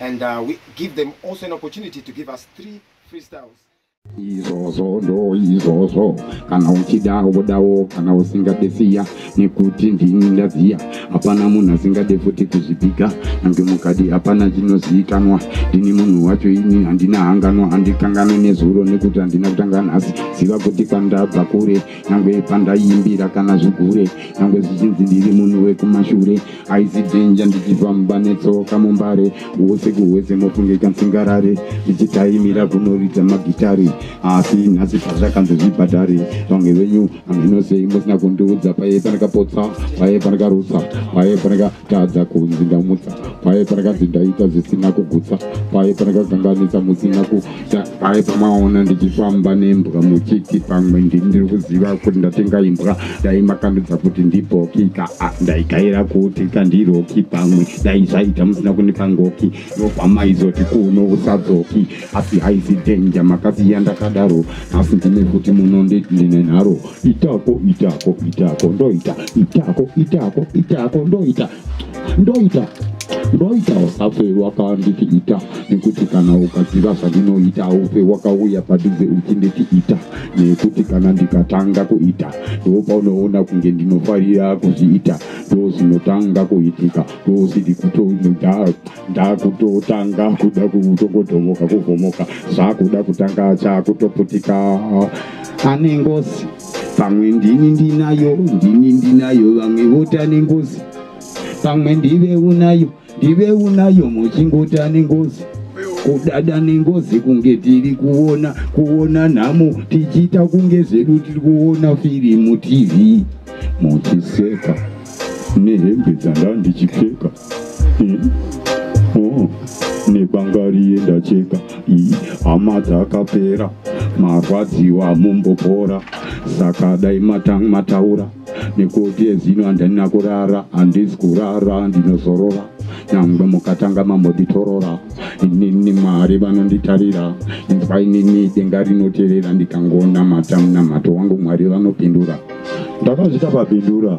and uh, we give them also an opportunity to give us three freestyles izvozvo ndo izvozvo kana uchida wodawo kana usingade siya nekuti ndini ndaziya hapana munhu asingade futi kuzvipiga nange mukadi hapana chinoziikanwa ndini munhu wacho ini handina hanganwa handikanganwe nezuro nekuti handina kutanga nhasi ziva kuti kwandabva kure nyangwe pandaiimbira kana zvigure nyangwe zvichinzi ndiri munhu wekumashure aisi dhenja ndichifamba netsoka mumbare wose kuhwese mofungika nsingarare ndichitaimira kunoridza magitari asi nhasi pazvakanzi zvibhadhari vamwe venyu haminosei musina kundiudza paye pandakapotsa paye pandakarutsa paye pandakatadza kunzi ndamutsa paye pandakadzindaita zvisina kugutsa paye pandakakanganisa musina ku sakai pamaona ndichifamba nembwa muchiti pamwe ndiri kuziva kuti ndatenga imbwa dai makandudza kuti ndibhoki ka ndaikaira kuti kandiroki pamwe dai zvaita musina kunipa ngoki nobva maizoti kuno usadzoki asi haizi dhenja makasiya ndakadaro asi ndine kuti muno nditi ndine nharo itako itako itako ndoita itako itako itako ndoita ndoita ndoita usafe wakanditi ita nekuti kana ukaziva zvandinoita ufe wakauya padhuze uchinditi ita nekuti kana ndikatanga kuita ndo paunoona kunge ndinofarira kuzviita ndo zvinotanga kuitika ndosidi kutoda ndakutotanga kuda kutongodhomoka kuvhomoka zvakuda kutanga chakutoputika ane ngozi pamwe ndini ndinayo ndini ndinayo vamwe vota nengozi pamwe ndive unayo ndive unayo muchingota nengozi kudada nengozi kunge tiri kuona kuona nhamo tichiita kunge zvedu tiri kuona firimu tv muchiseka nehembe dzanga ndichipfeka nebangari yendacheka hama dzakapera marwadziwa mumbopora saka dai mataura nekuti ezino handina kurara handisi kurara ndinozorora nyangwe mukatanga mamoditorora inini mwari vanonditarira inzwa inini denga rinoterera ndikangonamata munamato wangu mwari vanopindura ndakazvita papindura